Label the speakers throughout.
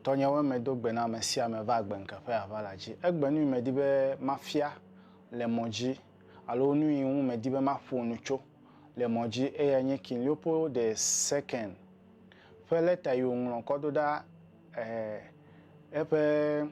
Speaker 1: Tɔnyewoe medo gbe na ame sia ame va agbenkeƒe ava la dzi. Egbe nui medi be mafia le mɔ dzi alo nui ŋu medi be maƒo nu tso le mɔ dzi eyae nye King Leopold the Second ƒe lɛta yi wòŋlɔ kɔ ɖo ɖa eh, eƒe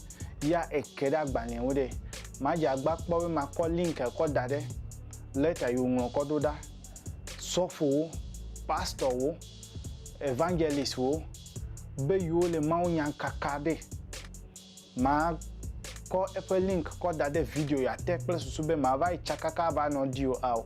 Speaker 1: ya eke ɖe agbalẽa ŋu ɖe, madze agba kpɔ be makɔ link kɔ da ɖe lɛta yi woŋlɔ kɔ ɖo ɖa. Sɔfowo, pastɔwo, evangelistwo be yewo le mawunya kaka ɖe. Makɔ eƒe link kɔ da ɖe video ya te kple susu be mava yi tsakaka ava nɔ ɖi o ao.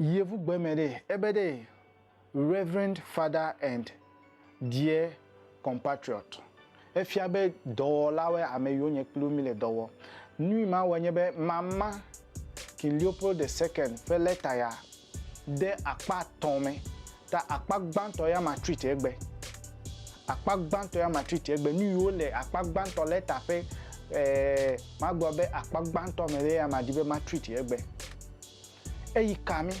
Speaker 1: Yevu gbe me ɖe, ebe ɖe, Reverend Father and dear compatriot, efia be dɔwɔlawoe ame yiwo nye kpli wo mi le dɔ wɔ. Nui ma wɔe nye be mama King Leopold the Second ƒe lɛta ya de akpa atɔ̃ me Ta akpa gbãtɔ ya ma treat egbe. Akpa gbãtɔ ya ma treat egbe. Nu yiwo le akpa gbãtɔ lɛta ƒe ɛɛ magblɔ be akpa gbãtɔ me ɖe ya ma di be ma treat egbe. Eyi ka mí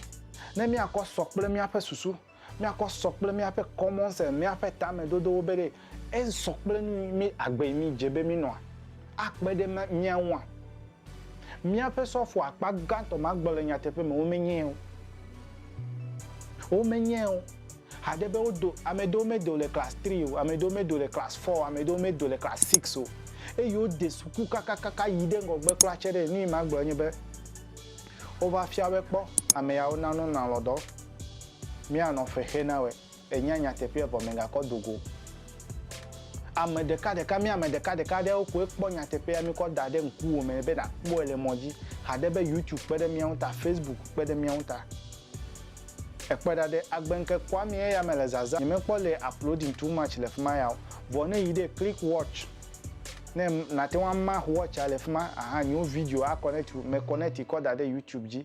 Speaker 1: ne míakɔ sɔ kple míaƒe susu, míakɔ sɔ kple míaƒe common sense, míaƒe tamedodowo be ɖe esɔ kple nu yi mí agbe yi mí dze be mí nɔa, akpe ɖe mía ŋua? Míaƒe sɔfo akpa gãtɔ magblɔ le nyateƒe me womenyee o. Womenyee o. Haɖe be wodo, ame ɖewo medo le class three o, ame ɖewo medo le class four o, ame ɖewo medo le class six o. Eye wode suku kakakaka yi ɖe ŋgɔgbe kura tsɛ ɖe. Nuyi magblɔ nye be, wova fia wɔe kpɔ, ameyawo nanɔ nalɔdɔ. Míanɔ ƒe xe na wɔe. Ènya nyateƒea vɔ mègakɔ do go. Ame ɖekaɖeka, mí ame ɖekaɖeka aɖewo koe kpɔ nyateƒea míkɔ da ɖe ŋkuwò me be nàkpɔe le mɔ dzi. Ha ɖe be YouTube kpe ɖe mía ŋu ta, Facebook kpe ɖe mía ŋu ta. Èkpɔe ɖa ɖe, agbe ŋke kpɔa mí eya mele zazã nyemekpɔ le uploading too much le fima ya o. Vɔ ne èyi ɖe click watch ne nàte ŋu amah watch a le fima ahan nyewo video a connect wu, mèconnect kɔ da ɖe YouTube dzi.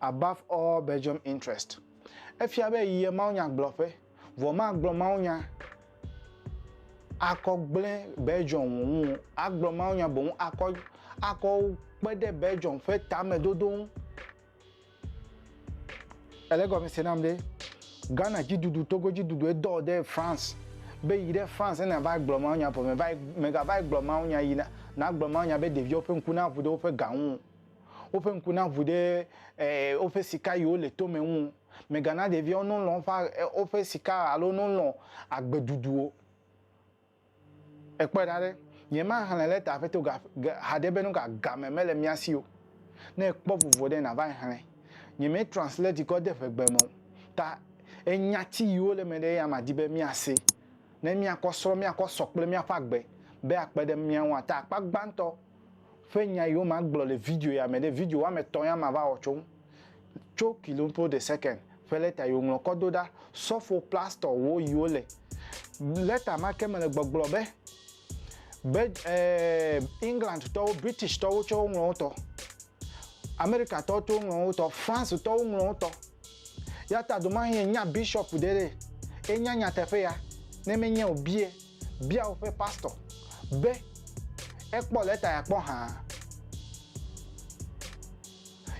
Speaker 1: Above all Belgium interest. Efia be yie mawunyagblɔƒe, vɔ magblɔ mawunya akɔ gblẽ Belgium ŋu wu agblɔ mawunya boŋ akɔ akɔ kpe ɖe Belgium ƒe tamedodo ŋu. Ele egɔme se nam ɖe Ghana dziɖuɖu, Togo dziɖuɖu edɔ ɖe France be yi ɖe France ne nàva gblɔ mawunya vɔ mèva megava gblɔ mawunya yi na nagblɔ mawunya be ɖeviwo ƒe ŋku naʋu ɖe woƒe ga ŋu o. Woƒe ŋku naʋu ɖe woƒe sika yi wole tome ŋu o. Mègana ɖeviawo nolɔ̃ woƒe sika alo nolɔ̃ agbeɖuɖu o. Èkpɔe ɖa ɖe, nyemaxlẽ lɛta aƒeto ga haɖe be nuka game mele mía si o. Ne èkpɔ vovo ɖe, nava exlẽ. Nyemetranslate kɔ de ʋegbe me o, ta enya ti yi wole eme ɖe eya madi be míase ne míakɔ srɔ̃, míakɔ sɔ kple míaƒe agbe be akpe ɖe mía ŋu ata akpa gbãtɔ. ƒe nya yiwo magblɔ le video ya me ɖe, video woame etɔ̃ ya mava wɔ tso ŋu, tso kilompro de sekɛnd ƒe lɛta yiwo ŋlɔ kɔ do ɖa, sɔfo plastɔ wo yiwo le lɛta ma ke me le gbɔgblɔ be, be e, England tɔwo, British tɔwo tsɛ woŋlɔ wo tɔ, Amerika tɔwo tsɛ woŋlɔ wo tɔ, France tɔwo ŋlɔ wo tɔ. Ya ta domahin enya bishop ɖe ɖe, enya nyateƒe ya, ne menye o bie. Bia woƒe pastɔ be ekpɔ lɛta ya kpɔ hã.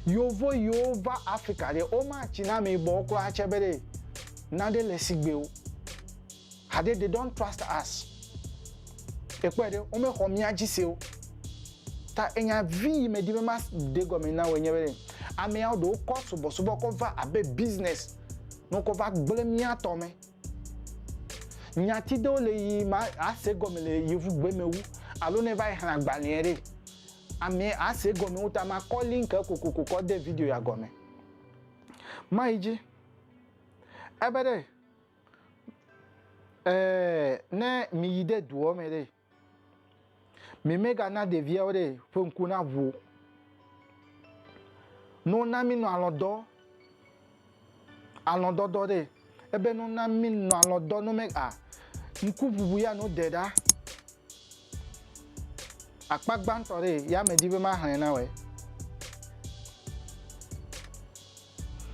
Speaker 1: Yovo yiwo va Afrika ɖe, womatsi na ameyibɔ wo kura atsɛ be ɖe naɖe le sigbe o. Haɖe they don't trust us. Èkpɔe ɖe, womexɔ mía dzi se o. Ta enya vi yi medi be maɖe gɔme na wòe nye be ɖe ameawo ɖewo kɔ subɔsubɔ kɔ va abe business ne wokɔ va gblẽ mía tɔ me. Nyati ɖewo le yi ma a se gɔme le yevu gbe me wu alo ne va yi xla agbalea ɖe amɛ a se gɔme wu ta ma kɔ link e kokoko kɔ de video ya gɔme. Ma yi dzi. Ebe ɖe ɛɛ ne mi yi de duɔ me ɖe Mimegana ɖeviawo ɖe ƒe ŋku na ʋu o. No na minɔ alɔdɔ alɔdɔdɔ ɖe ebe no na minɔ alɔdɔ no me a ŋku ʋuʋu ya no de ɖa. Akpa gbãtɔ ɖe ya me di be ma hlɛ na wɛ.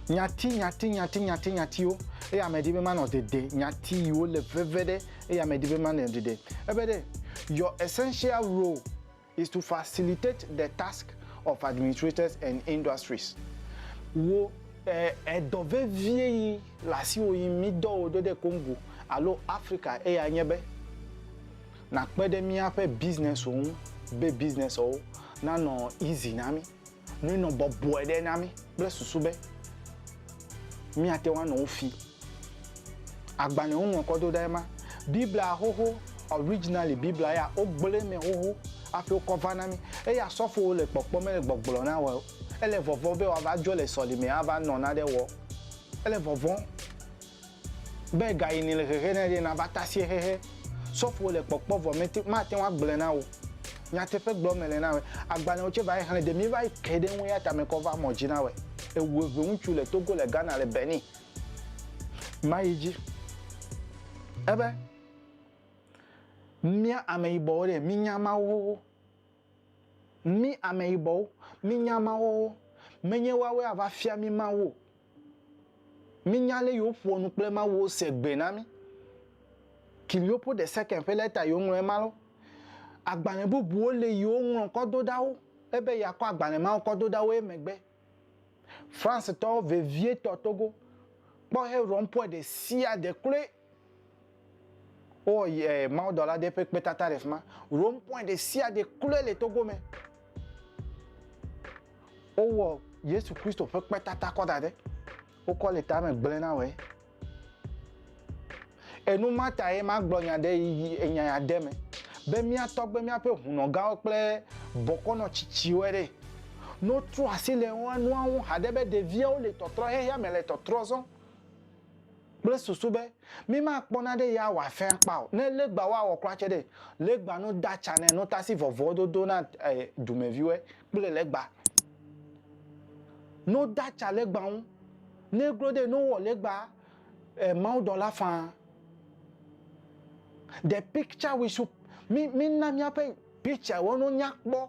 Speaker 1: Nyati, nyati, nyati, nyati, nyatiwo, eye ame ɖi be manɔ dede, nyati yiwo le veve ɖe, eye ame ɖi be manɔ dede. Ebe ɖe, Your essential role is to facilitate the task of administrators and industries. Wò edɔ vevie yi le asiwò yi mí dɔ wò ɖo ɖe Congo alo Afrika eya nye be nàkpe ɖe míaƒe businesswo ŋu be businesswo nanɔ easy na mí. Nɔe nɔ bɔbɔe ɖe na mí kple susu be míate ŋu anɔ wo fi. Agbalẽ si woŋlɔkɔ do ɖa ye ma, Biblia xoxo, originally, Biblia ya, wogblɔe mɛ xoxo hafi wokɔ va na mí. Eya sɔfowo le kpɔkpɔ mele gbɔgblɔ na wɔ. Ele vɔvɔ̃ be wòava dzɔ le sɔlimea ava nɔ naɖe wɔ. Ele vɔvɔ̃. Be gayi nèle hehe na ye ɖe, nàva tasie hehe. Sɔfowo le kpɔkpɔ vɔ mete, mate ŋu agblɔe na wò. Nyateƒe gblɔm mele na wòe. Agbalẽwo tsɛ va yi xlẽ, ɖe míeva yi ke ɖe eŋu eya ta mekɔ va mɔ dzi na wòe. Ewu eve ŋutsu le Togo, le Ghana, le Benin. Mayi dzi ebe, Mía ameyibɔwo ɖe, mínya Mawu xoxo. Mí ameyibɔwo, mínya mawɔwɔ. Menye woawoe ava fia mí Mawu o. Mínya ale yi woƒoa nu kple Mawu wose gbee na mí. Kilioppo de Sekem ƒe lɛta yi woŋlɔ ema lɔ. Agbalẽ bubuwo li yi woŋlɔ kɔ do ɖa wo ebe yeakɔ agbalẽ mawo kɔ do ɖa wo emegbe. Francetɔ vevietɔ Togo kpɔ Heurompoe ɖesiaɖe kloe. Wowɔ eh, mawudɔla ɖe ƒe kpetata ɖe fi ma. Rome point ɖe sia ɖe kloe le Togo me. Wowɔ Yesu Kristo ƒe kpetata kɔ da ɖe. Wokɔ le tame gblẽ na wɔe. Enu ma ta ye magblɔ nya ɖe yi enya ya de me be mía tɔgbe míaƒe hunɔgãwo kple bɔkɔnɔ tsitsiwoe ɖe. Ne wotrɔ asi le nua ŋu haɖe be ɖeviawo le tɔtrɔhexea me le tɔtrɔ zɔm, kple susu be mímakpɔ naɖe ya wòafẽ akpa o. Ne legba woawɔ kura tsɛ ɖe, legba nu da tsa nɛ nutasi vɔvɔwo dodo na dumɛviwɔɛ kple legba nu da tsa legba ŋu. Ne glo ɖe nu wɔ legba Mawu dɔla faa. The picture we should, mi, mina míaƒe picture wo nu nya kpɔ.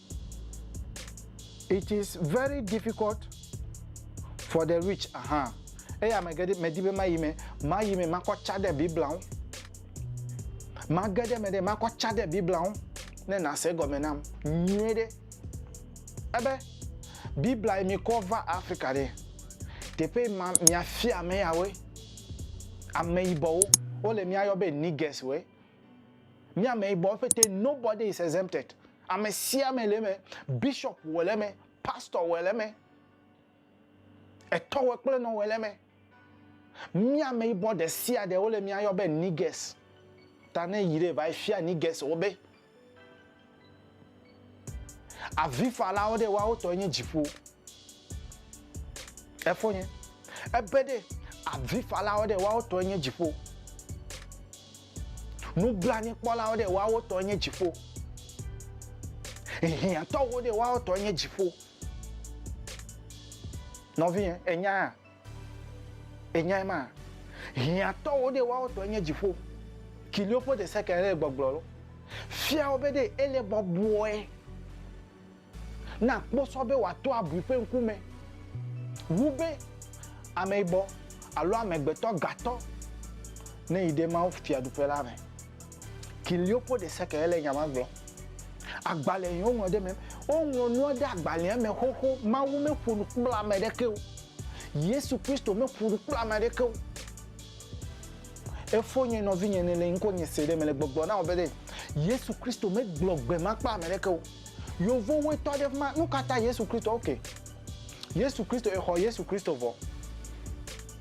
Speaker 1: It is very difficult for the rich aha eye ame geɖe medi be mayi me mayi me makɔ tsa ɖe Biblia ŋu mage ɖe me ɖe makɔ tsa ɖe Biblia ŋu ne nase gɔme nam nyuie ɖe ebe Biblia yi mi kɔ va Afrika ɖe teƒe ma miafia ame yawoe ame yibɔwo wole miayɔ be nigers woe. Mía me bɔ ƒete, nobody is exempted. Ame sia ame le eme. Bishop wɔ le eme, pastor wɔ le eme, etɔwɔ kple nɔ wɔ le eme. Mía me bɔ ɖe sia ɖe wole mía yɔ be niggas. Ta ne yi ɖe va yi fia niggas wo be Avifalawo ɖe, woawo tɔe nye dziƒo. Efonye. Ebe ɖe, avifalawo ɖe, woawo tɔe nye dziƒo. Nublanuikpɔlawo ɖe, woawo tɔe nye dziƒo. Hiãtɔwo ɖe, woawo tɔe nye dziƒo. Nɔvinye, ènyae? Ènyae ma? Hiãtɔwo ɖee woawo tɔe nye dziƒo, kiliwo ƒe deseke ɖee gbɔgblɔ lo. Fia wo be ɖe ele bɔbɔe na kposɔ be wòato abui ƒe ŋkume wu be ameyibɔ alo amegbetɔ gatɔ neyi ɖe Mawu Fiaɖuƒe la me. Kiliopó de seke ele nya ma gblɔ. Agbalẽ yi woŋlɔ ɖe me. Woŋlɔ nua ɖe agbalẽa me xoxo. Mawu meƒo nu kple ame aɖeke o. Yesu Kristo meƒo nu kple ame aɖeke o. Efonye nɔvinye ne le ŋkonye se ɖe mele gbɔgblɔ na wò be ɖe Yesu Kristo megblɔ gbe ma kple ame aɖeke o. Yevowoe tɔ ɖe fi ma. Nukata Yesu Kristo? Ok. Yesu Kristo, exɔ Yesu Kristo vɔ.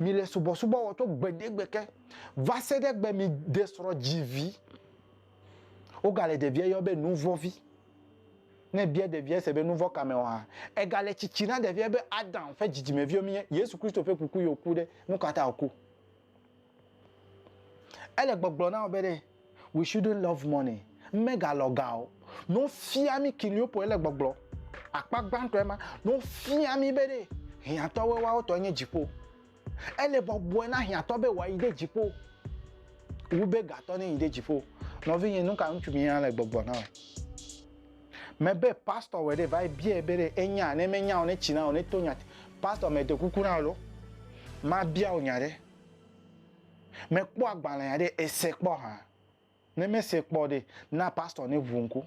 Speaker 1: Mi le subɔsubɔ wɔ tso gbeɖegbe ke va se ɖe gbe mi de srɔ̃ dzi vi. Woga le ɖevia yɔ be nuvɔ vi. Ne bia ɖevia se be nuvɔ ka me wɔ ha. Ega le tsitsi na ɖevia be Adam ƒe dzidzimeviwo mi nye Yesu Kristo ƒe kuku ye wo ku ɖe. Nukata wo ku? Ele gbɔgblɔ na wò be ɖe we shouldn't love money, mega lɔ ga o. Ne wofia mí Kiliopol ele gbɔgblɔ, akpa gbãtɔe ma, ne wofia mí be ɖe hiãtɔwoe woawo tɔe nye dziƒo. Ele bɔbɔe na hiãtɔ be wòayi ɖe dziƒo wu be gatɔ ne yi ɖe dziƒo. Nɔvinye, nu ka ŋutsu mía le gbɔgblɔ na wò? Mebe pastor wɔ ɖe va yi biae be ɖe enya, ne menya o ne tsi na wò ne to nya. Pastor mede kuku na wò ɖo mabia wò nya ɖe. Mekpɔ agbalẽa ɖe, èse kpɔ hã? Ne mèse kpɔ o ɖe, na pastor neʋu ŋku.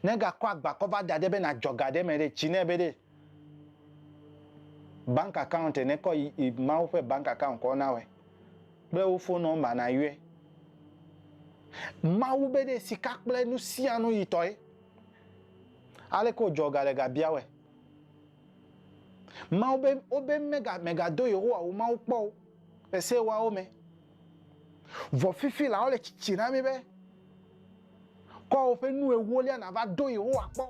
Speaker 1: Ne gakɔ agba kɔ va da ɖe be nàdzɔ ga ɖe me ɖe, tsi nɛ be ɖe bank account ne kɔ yi Mawu ƒe bank account kɔ na wɔe kple wo phone number nayɔe. Mawu be ɖe sika kple nusianu yi tɔe. Aleke wòdzɔ ga le ga bia wɔe? Mawu be wobe mega megado Yehowa wò Mawu kpɔ o le se ewoawo me. Vɔ fifi la wole tsitsi na mi be kɔ woƒe nu ewolia nava do Yehowa kpɔ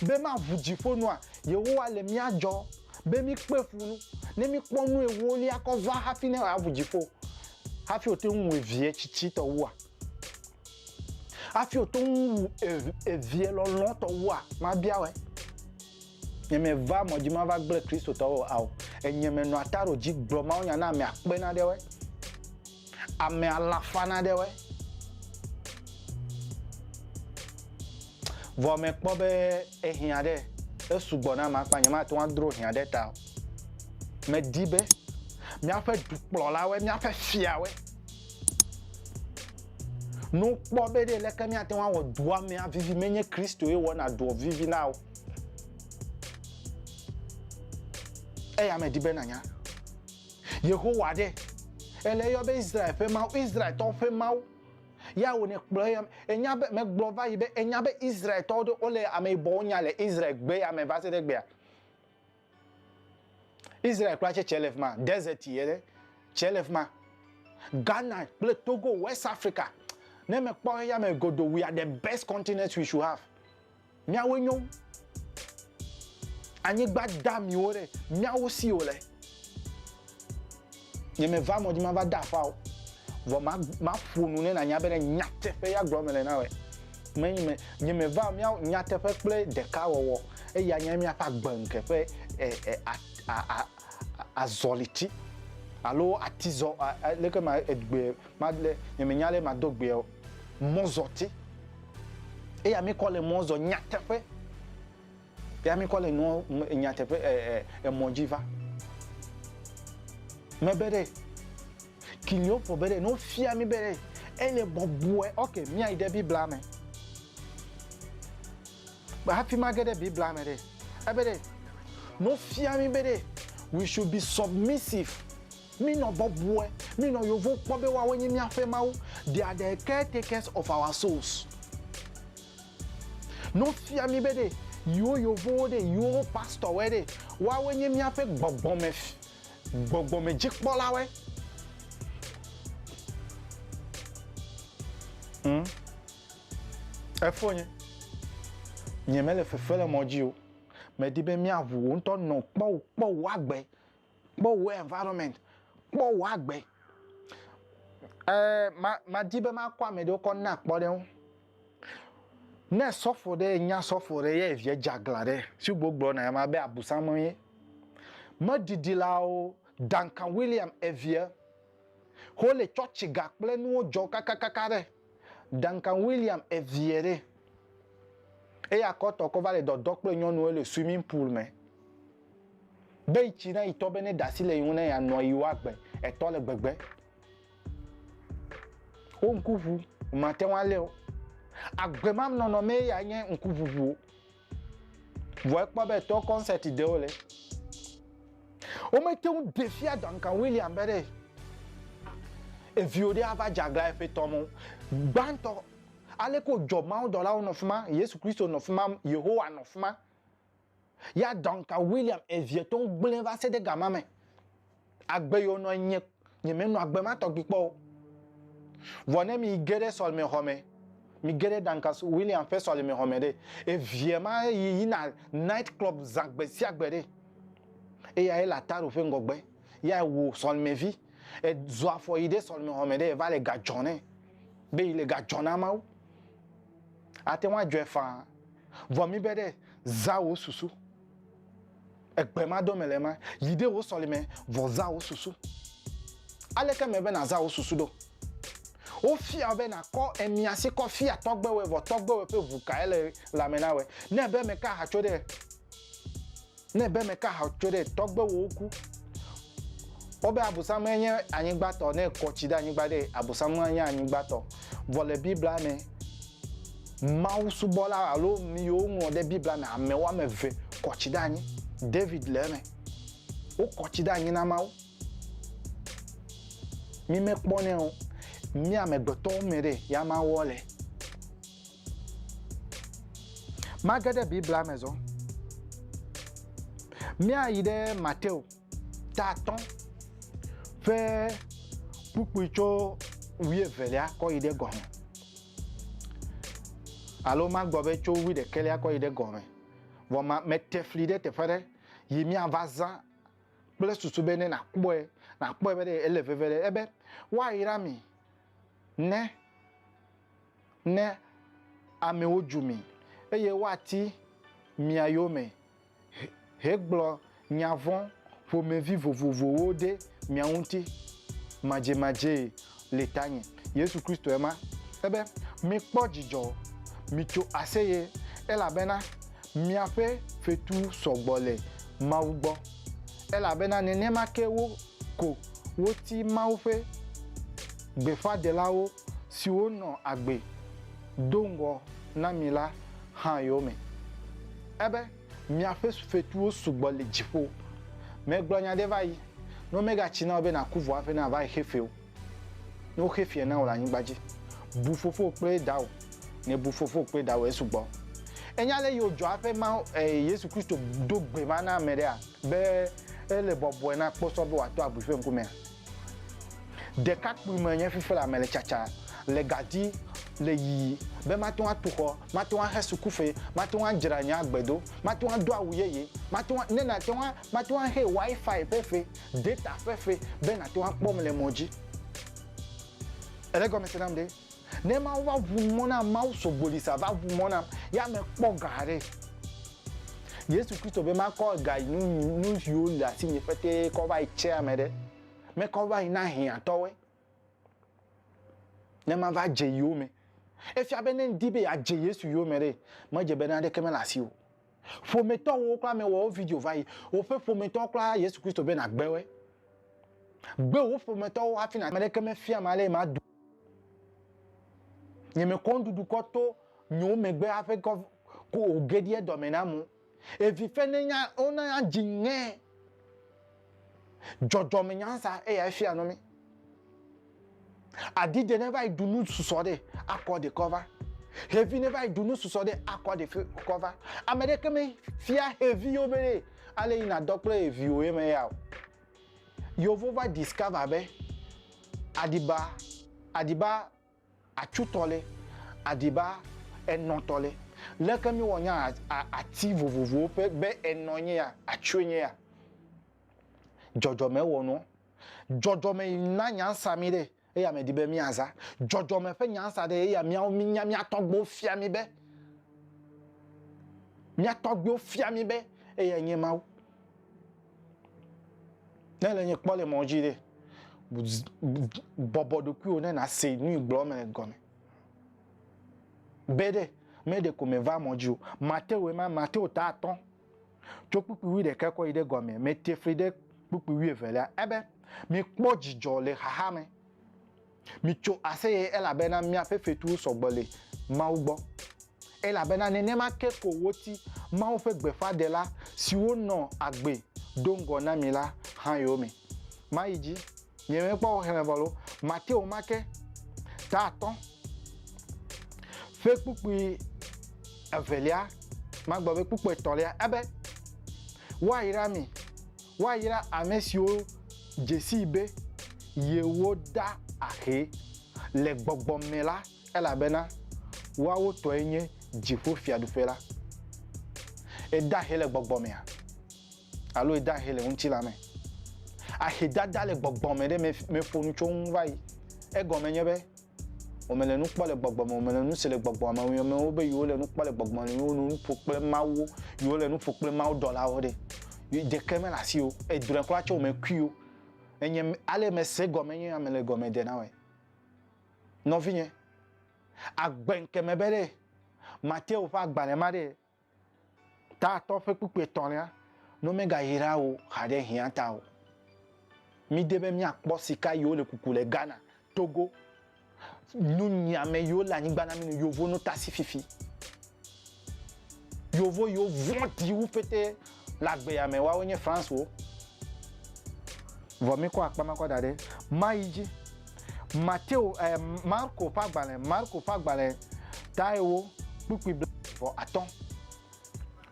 Speaker 1: be maʋu dziƒo nua Yehowa le mía dzɔ be mi kpe fu nu ne mi kpɔ nu ewolia kɔ va hafi ne wòaʋu dziƒo hafi wòte ŋu wòe vie tsitsitɔ wua. Hafi wòto ŋu wu evie lɔlɔ̃tɔ wua? Mabia wòe. Nye meva mɔ dzi mava gblẽ Kristotɔwo o, ao, enye menɔa ta ɖo dzi gblɔ mawunya na ame akpe naɖewoe, ame alafa naɖewoe. Vɔ mekpɔ be ehiã ɖe, esugbɔ nam akpa nyemate ŋu adro hiã ɖe eta o. Medi be míaƒe dukplɔlawoe, míaƒe fiawoe, Nu kpɔ be ɖe leke míate ŋu awɔ dua me avivi menye Kristoe wɔna doa vivi na o. Eya medi be nanya. Yehowa ɖe ele eyɔ be Israel ƒe Mawu, Israeltɔwo ƒe Mawu. Ya wòne kplɔ eya enya be megblɔ va yi be enya be Israeltɔwo ɖe wole ame yibɔwo nya le Israel gbe ya me va se ɖe gbea. Israel kura tse tse le fi ma desert ye ɖe tse le fi ma Ghana kple Togo West Africa ne me kpɔ eya me godo we are the best continent we should have miawo nyo anyigba da miwo ɖe miawo si o le. Nye me va mɔ dzi ma va da afao, vɔ ma ma ƒo nu ne na nya be ne nya teƒe ya gblɔ me le na wɛ. Me nye me nye me va mia nya teƒe kple ɖeka wɔwɔ eye anya mia ƒe agbe ŋke ƒe e e a a a azɔli ti alo ati zɔ a a leke ma egbe ma le nye me nya le ma do gbe o mɔzɔ ti. Eya mi kɔ le mɔzɔ nya teƒe. Ya mikɔ le nuɔ nyateƒe ɛ ɛ emɔ dji va. Mɛ be ɖe, kilio ƒo be ɖe no fia mi be ɖe ele bɔbɔɛ ok miayi ɖe bibla mɛ. Kpa hafi ma ge ɖe bibla mɛ ɖe, ebe ɖe no fia mi be ɖe we should be submissive mi nɔ bɔbɔɛ mi nɔ yovo kpɔ be woawoe nyi miaƒe mawu they are the caretakers of our souls. No fia mí be ɖe yiwo yovowo ɖe yiwo wo pastor wɛ ɖe woawoe nye míaƒe gbɔgbɔme gbɔgbɔme dzikpɔla wɛ. Ŋ, efonye, nye mele fefe le mɔ dzi o. Medi be míaʋu wò ŋutɔ nɔ kpɔwò kpɔwò agbe. kpɔ wò environment, kpɔ wò agbe. Ɛɛ, ma, madi be makɔ ame ɖewo kɔ na akpɔ ɖe ŋu. Ne sɔfo ɖe nya sɔfo ɖe ye evia dze aglã ɖe, si wò gblɔ na ema be abusam ye. Meɖiɖilawo, Duncan William evia, wole tsɔtsi ga kple nuwo dzɔ kakakaka ɖe. Duncan William eviɛ ɖe. Eya kɔtɔ kɔ va le dɔdɔ kple nyɔnu ele swimming pool me. Be yi tsi na yi tɔ be ne dasi le yi ŋu ne ya nɔ yi wa gbe etɔ le gbegbe. Wo ŋku ŋu, ma te ŋu aleo. Agbe ma nɔnɔ me ya nye ŋku ŋuŋuo. Vɔ ekpɔ be tɔ kɔnsɛti ɖe wole. Womete ŋu ɖe fia Duncan William be ɖe eviwo ɖe ava dze aglã eƒe tɔ me o. Gbãtɔ, aleke wòdzɔ mawudɔlawo nɔ fi ma, Yesu Kristo nɔ fi ma, Yehowa nɔ fi ma. Ya Duncan William eviɛ tɔ ŋu gblẽ va se ɖe gama me. Agbe yo nɔe nye nyemenɔ agbe ma tɔgbi kpɔ o. Vɔ ne mi ge ɖe sɔlemexɔ me, mi ge ɖe Duncan Williams ƒe sɔlemexɔ me ɖe, eviɛ ma yi yina night club zã gbe sia gbe ɖe. Eyae le Ataro ƒe ŋgɔgbe. Yae wò sɔlemevi. E zu afɔ yi ɖe sɔlemexɔ me ɖe eva le ga dzɔ nɛ. Be yi le ga dzɔ na Mawu. Ate ŋu adzɔe faa. Vɔ mi be ɖe, zã wò susu. Egbe ma dome le ema, yi ɖe wò sɔlime, vɔ zã wò susu. Aleke mele be nàzã wò susu ɖo? Wofia wò be nàkɔ emia si kɔ fia tɔgbewoe, vɔ tɔgbewoe ƒe ʋu kae le lãme na wòe? Ne èbe meka aha tso ɖe, ne èbe meka aha tso ɖe, tɔgbewowo ku. Wobe Abosame nye anyigbatɔ, ne ekɔ tsi ɖe anyigba ɖe, Abosame nye anyigbatɔ. Vɔ le Biblia me, Mawusubɔla alo nu yiwo woŋlɔ ɖe Biblia me ame woame eve kɔ tsi ɖe anyi. David le eme. Wokɔ tsi ɖe anyi na Mawu. Mí me kpɔnɛ o. Mí amegbetɔwo me ɖe ya ma wɔ le. Mage ɖe Biblia me zɔ. Mía yi ɖe Mateo ta atɔ̃ ƒe kpukpui tso wuievelia kɔ yi ɖe gɔme. Alo magblɔ be tso wuiɖekɛlia kɔ yi ɖe gɔme. Vɔ ma, mete fli ɖe teƒe aɖe yi míava zã kple susu be ne nàkpɔe, nàkpɔe be ɖe ele veve ɖe ebe woayra mi ne, ne amewo dzu mi, eye woati mia yome hegblɔ nya vɔ̃ ƒomevi vovovowo ɖe mia ŋuti madzemadzee le tanye. Yesu Kristoe ma. Ebe, Mikpɔ dzidzɔ, mitso aseye, elabena miaƒe fetu sɔ gbɔ le Mawu gbɔ, elabena nenema ke wo ko woti Mawu ƒe gbeƒãɖelawo siwo nɔ agbe. do ŋgɔ na mi la hã yome. Ebe, Miaƒe fetuwo sugbɔ le dziƒo. Megblɔ nya aɖe va yi, ne womegatsi na wò be nàku vɔa ƒe na va xe fewo. Ne woxe feɛ na wò le anyigba dzi, bu fofowò kple dawò. Ne èbu fofowò kple dawò esugbɔ. Ènya ale yio dzɔa ƒe ma Yesu Kristo do gbe ma na ame ɖea? Be ele bɔbɔe na kposɔ be wòato abui ƒe ŋkumea? Ɖekakpui me nye fifila mele tsatsa le ga di le yiyi be mate ŋu atu xɔ, mate ŋu axe sukufe, mate ŋu adzra nye agbe do, mate ŋu ado awu yeye, mate ŋu, ne nate ŋu, mate ŋu ahe Wi-Fi ƒe fe, data ƒe fe be nàte ŋu akpɔm le mɔ dzi. Èle egɔme se nam ɖe? Ne Mawu va ʋu mɔ nam, Mawu so gbolisa va ʋu mɔ nam, ya mekpɔ ga aɖe. Yesu Kristo be makɔ ga yi nu nu siwo le asinye petee kɔ va yi tsea me ɖe, mekɔ va yi na hiãtɔwoe, ne mava dze yewo me. Efia be ne ŋdi be yeadze Yesu yome ɖe, medze be naneke mele asiwò o. Ƒometɔ wò kura me wɔ wo video va yi. Woƒe ƒometɔ kura Yesu Kristo be na gbe woe. Gbe wo ƒometɔ wo hafi na. Ame ɖeke me fia ma le ma du. Nye me kɔn dudu kɔ to nyo me gbe hafi kɔ ko o gedie dɔ me na mu. Evi fe ne nya ona ya dzi ŋɛ. Dzɔdzɔme nyansa eya efia nɔ mi. Adi de ne va yi dunu susɔ ɖe akɔ de kɔ va. Xevi ne va yi dunu susɔ ɖe akɔ de kɔ va. Ame ɖe ke me fia xevi yo be ɖe ale yi na dɔ kple evi wo ye me ya o. Yovo va discover be adiba adiba Atsu tɔ lɛ, adiba enɔ tɔ lɛ. Leke mi wɔ nya a ati vovovowo ƒe be enɔ nye ya, atsue nye ya? Dzɔdzɔme wɔ nuɔ. Dzɔdzɔme yi na nyansa mi ɖe eya me di be mi aza. Dzɔdzɔme ƒe nyansa ɖe eya miawo mi nya mia tɔgbewo fia mi be, mia tɔgbewo fia mi be eyae nye Mawu. Ne le nye kpɔ le mɔ dzi ɖe, bɔbɔ ɖokuiwò ne nàse nu yi gblɔm mele gɔme. Be ɖe, me ɖeko meva mɔ dzi o. Matewu ema, Matewu ta atɔ̃, tso kpukpui wuiɖeka kɔ yi ɖe gɔme, mete fli ɖe kpukpui wuievelia. Ebe, mikpɔ dzidzɔ le xaxa me. Mitso aseye, elabena miaƒe fetuwo sɔ gbɔ le Mawu gbɔ, elabena nenema ke ko woti Mawu ƒe gbeƒãɖela siwo nɔ agbe do ŋgɔ na mi la hã yome. Mayi dzi, miemekpɔ xexlẽme vɔ loo, Mateo ma ke, ta atɔ̃, ƒe kpukpui evelia, magblɔ be kpukpui etɔ̃lia, ebe, Woayra mi. Woayra ame siwo dze sii be yewoda ahe le gbɔgbɔ me la, elabena woawo tɔe nye dziƒo fiaɖuƒe la. Èda ahe le gbɔgbɔ mea? Alo èda ahe le ŋutilã me? Ahedada le gbɔgbɔ me ɖe meƒo nu tso eŋu va yi. Egɔme nye be, Womele nu kpɔ le gbɔgbɔ me, womele nu se le gbɔgbɔ me. Woyɔ amewo be yewo le nu kpɔ le gbɔgbɔ me, yewo nu ƒo kple Mawu, yewo le nu ƒo kple Mawu dɔlawo ɖe. Ɖeke mele asi o, edrɔe kura tso me kui o. Enye ale mese gɔme nye ame le gɔme de na wɔe. Nɔvinye, agbe ŋkeme be ɖe Mateo ƒe agbalẽ ma ɖe Ta atɔ ƒe kpukpui etɔ̃lia no megayra wo haɖe hiã ta o. Mide be míakpɔ sika yiwo le kuku le Ghana, Togo, nunyiame yiwo le anyigba na mí nu yovo nutasi fifi. Yovo yiwo vɔ̃ ɖi wu pɛtɛ Le agbea me, woawo nye Francewo. Vɔ míkɔ akpa ma kɔ da ɖe mayi dzi. Mateo, ɛ, Marko ƒe agbalẽ, Marko ƒe agbalẽ taewo kpukpui bla eve vɔ atɔ̃.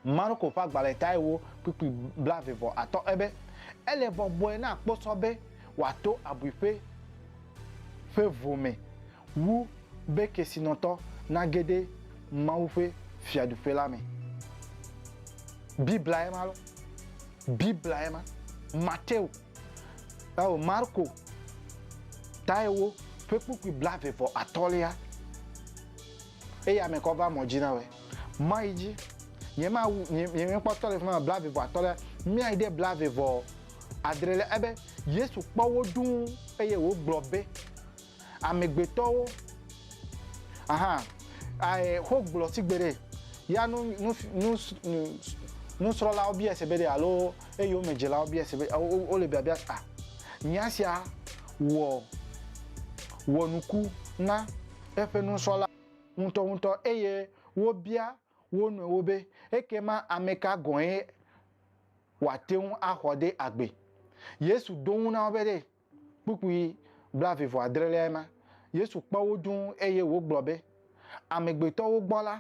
Speaker 1: Marko ƒe agbalẽ taewo kpukpui bla eve vɔ atɔ̃ ebe, Ele bɔbɔe na kposɔ be wòato abuiƒe ƒe vo me. wu be kesinɔtɔ nage ɖe Mawu ƒe Fiaɖuƒe la me. Biblae ma lɔ. Biblae ma. Mateo, alo Marko, tae wo ƒe kpukpui blaeve vɔ atɔ̃lia eyame kɔ va mɔ dzi na wɔe. Mɔ yi dzi nyemawu, nyemekpɔtɔ le fi ma blaeve vɔ atɔ̃lia, míayi ɖe blaeve vɔ adrelia ebe, Yesu kpɔ wo dũu eye wògblɔ be, amegbetɔwo ahan ae xogblɔ sigbe ɖe ya nu nu nu nu nusrɔ̃lawo bia se be ɖe alo eyome dzilawo bia se be wo le biabia a ah, nya sia wɔ wɔ nuku na eƒe nusrɔ̃la ŋutɔŋutɔ eye wobia wo nɔewo be ekema ame ka gɔ̃e wòate ŋu axɔ ɖe agbe. Yesu ɖo ŋu na wo be ɖe Kpukpui blaeve vɔ adreliae ma. Yesu kpɔ wo dũu eye wògblɔ be, Amegbetɔwo gbɔ la,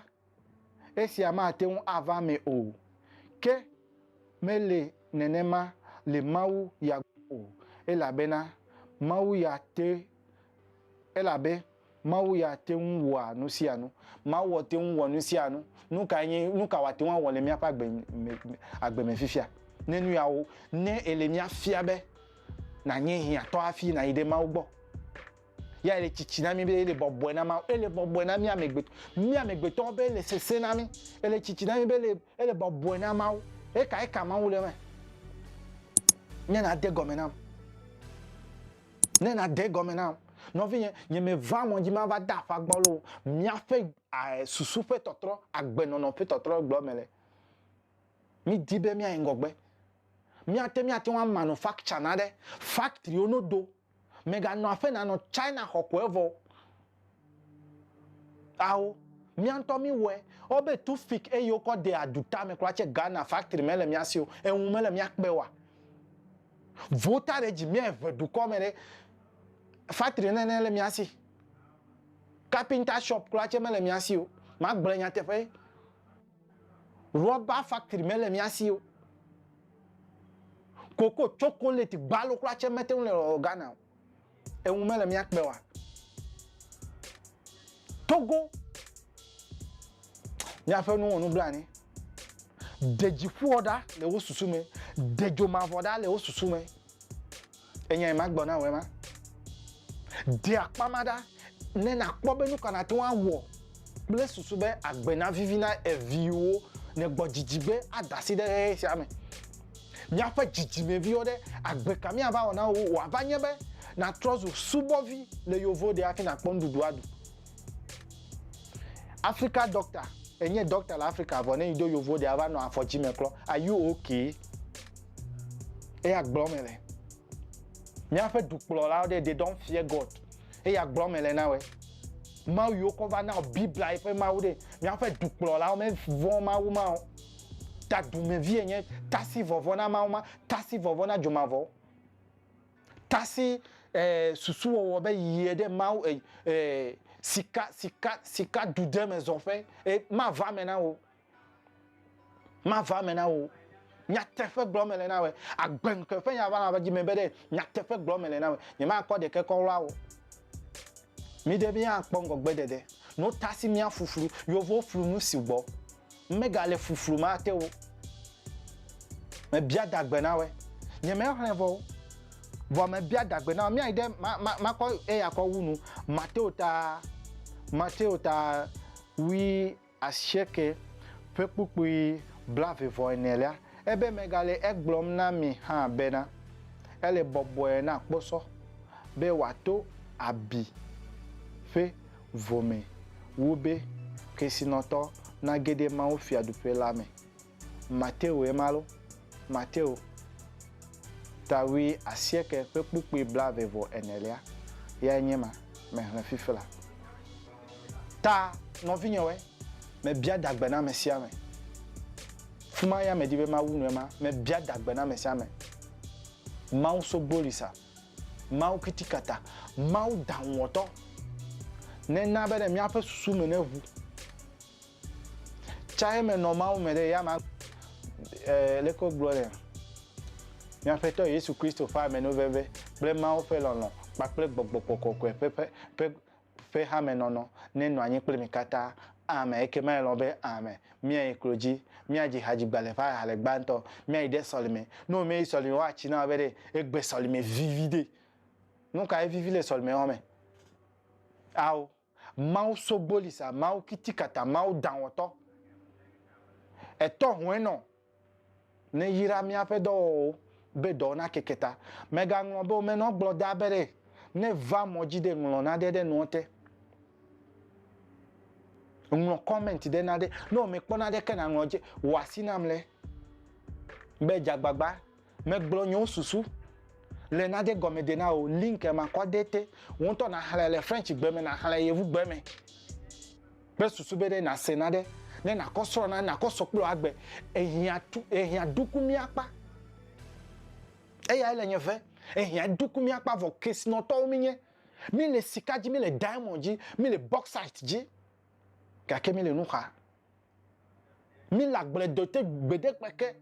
Speaker 1: esia mate ŋu ava eme o, ke mele nenema le Mawu ya gbɔ o, elabena Mawu ya te elabe Mawu ya te ŋu wɔa nu sia nu. Mawua te ŋu wɔ nu sia nu. Nu kae nye, nu ka wòate ŋu awɔ le míaƒe agbe me, agbe me fifia? Ne nu ya wo, ne ele mía fia be nànye hiãtɔ hafi nàyi ɖe Mawu gbɔ. Ya ele tsitsi na mí be ele bɔbɔe na Mawu, ele bɔbɔe na mí amegbetɔ, mí amegbetɔwo be ele sesẽ na mí, ele tsitsi na mí be ele, ele bɔbɔe na Mawu. Eka, eka Mawu le eme. Nye na de gɔme nam. Ne nàde gɔme nam, nɔvinye, nyemeva mɔ dzi mava de afa gbɔlo o. Míaƒe susu ƒe tɔtrɔ, agbenɔnɔ ƒe tɔtrɔ gblɔ mele. Mídi be míayi ŋgɔgbe. Míate ŋu ate ŋu amanufaktsana ɖe faktriwo no do. Mèganɔ aƒe nànɔ China xɔ kɔe vɔ o. Ao, mía ŋutɔ mí wɔe. Wo be tu fik eye wokɔ de adu tame kura tse Ghana factory me le mía si o. Eŋu me le mía kpe wa. Vo ta ɖe dzi mía eve dukɔ me ɖe factory nene le mía si. Carpenter shop kura tse me le mía si o. Ma gblɔe nyateƒe. Rɔba factory me le mía si o. Koko, chocolate, gbalo kura tse me te ŋu le Ghana o. Eŋu mele mía kpe oa? Togo, Míaƒe nu wɔ nublanui. Ɖe dziƒoɔ ɖa le wo susu me, ɖe dzo mavɔ ɖa le wo susu me. Enyae magblɔ na wòe ma. Ɖe akpa ma ɖa. Ne nàkpɔ be nu ka nàte ŋu awɔ kple susu be agbe navivi na viwò nègbɔ dzidzi be ada asi ɖe ʋeʋẽ sia me. Míaƒe dzidzimeviwo ɖe, agbe ka míava wɔ na wo? Wòava nye be nàtrɔ zu subɔvi le yewo ɖe hafi nàkpɔ nuɖuɖu aɖu. Afrika Dɔkta, Ènye dɔkta le Afrika vɔ ne yi ɖo yewo ɖea ava nɔ afɔ dzi me klɔ. Are you okay? Eya gblɔm mele. Míaƒe dukplɔlawo ɖe, They don't fear God. eya gblɔ me le na wɛ. Mawu yiwo kɔ va na o Biblia eƒe Mawu ɖe. Míaƒe dukplɔlawo mevɔ̃ Mawu ma o. Ta dumevie nye tasi vɔvɔ na Mawu ma, tasi vɔvɔ na dzomavɔwo. Tasi eh, susuwɔwɔ be yie ɖe Mawu eh, eh, sika, sika, sika dudeme zɔƒe eh, mava me na wò. Mava eme na wò. Nyateƒe gblɔm mele na wò. Agbe ŋkeke ƒe nya va na dzi me be ɖe nyateƒe gblɔm mele na wò. Nyemakɔ ɖeke kɔ wla wò. Mi ɖe mi akpɔ ŋgɔgbe ɖeɖe. No ta si mia fuflu. Yewo flu nu si gbɔ. Mega le fuflu ma te wò. Me bia dagbe na wò. Nye me xlẽ vɔ wò. Vɔ me bia dagbe na wò. Mia yi ɖe ma ma ma kɔ eya kɔ wu nu. Mateo ta Mateo ta wi. asieke, ƒe kpukpui blaeve-vɔ-enelia, ebe megale egblɔm na mi hã bena, ele bɔbɔe na kposɔ be wòato abi ƒe vo me wu be kesinɔtɔ nage ɖe Mawu Fiaɖuƒe la me. Mateo ye ma lo? Mateo, ta wui asieke ƒe kpukpui blave vɔ enelia yae nye ma mehlẽ fifila. Ta, nɔvinyewoe, mebia dagbe na amesiame. Fima ya medi be mawu nu ema, mebia dagbe na amesiame. Mawu sogbolisa, Mawu kitikata, Mawu daŋuwɔtɔ, nena be ɖe míaƒe susu me neʋu. Tsaxɛ me nɔ Mawu me ɖe eya ma e, leke wogblɔ nɛ? Mía Aƒetɔ Yesu Kristo ƒe amenuveve kple Mawu ƒe lɔlɔ̃ kpakple gbɔgbɔ kɔkɔkɔe ƒe ƒe ƒe ƒe hamenɔnɔ nenɔ anyi kple mi katã. Amen. Ekema elɔ̃ be, Amen. Míayi klo dzi. Míadzi ha dzigbalẽ ƒe aha le gbãtɔ. Míayi ɖe sɔlime. Ne womeyi sɔlime o, woatsi na wò be ɖe egbe sɔlime viviɖe. Nu kae vivi le sɔlimewɔme? Ao. Mawu sogbolisa, Mawu kitikata, Mawu danwɔtɔ, ètɔ hwenɔ nèyra míaƒe dɔwɔwɔwo be dɔwo nakeke ta. Mègaŋlɔ be womenɔ gblɔ da be ɖe nèva mɔ dzi ɖe ŋlɔ naɖe ɖe nuɔ te. Ŋlɔ comment ɖe naɖe. Ne wòmekpɔ naɖe ke naŋlɔ dzi wɔ asi nam le be dzagbagba. Megblɔ nye wo susu le nade gɔme de na wo link ma kɔ de te. Wo ŋutɔ na xlɛ le French gbe me na xlɛ yevu gbe me. Kpe susu be ɖe na se na ɖe ne na kɔ srɔ na na kɔ sɔ kple agbe ehia tu ehia duku mi akpa. Eya ele nye ve ehia duku mi akpa vɔ kesinɔtɔwo mi nye. Mi le sika ji mi le diamond ji mi le bauxite ji. Gake mi le nuxa. Mi le agble do te gbede kpeke.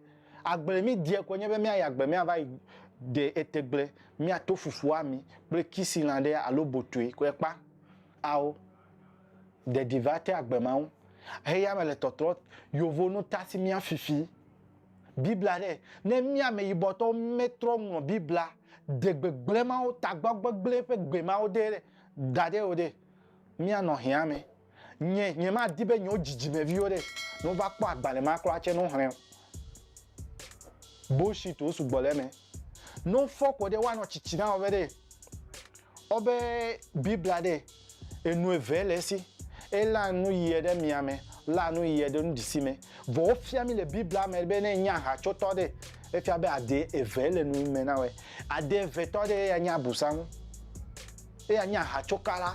Speaker 1: Agble mi diɛ koe nye be mia yi agble mia va yi de etegble mia to fufu ami kple kisi lã ɖe alo botue koe kpa. Ao. De di va te agbe mawo. Heya me le tɔtrɔ yovo nu ta si mia fifi. Biblia ɖe. Ne mia ame yibɔ tɔwo me trɔ ŋlɔ Biblia de gbegble mawo tagbɔ gbegble ƒe gbe mawo de ɖe da ɖe o ɖe, mia nɔ hɛa me. Nye nyemadi be nyewo dzidzimeviwo ɖe nova kpɔ agbalẽ ma kura tse no xlẽ o. Bullshit wo sugbɔ le eme. No fɔ kɔ ɖe woanɔ tsitsi na wobe ɖe wobe Biblia ɖe enu eve le esi. Elã nu yiɛ ɖe mia me, lã nu yiɛ ɖe nuɖisi me. Vɔ wo fia mi le Biblia me be ne enye ahacotɔ ɖe efia be ade eve le nu me na woe. Ade eve tɔ ɖe eya nye abusaŋu, eya nye ahacokala,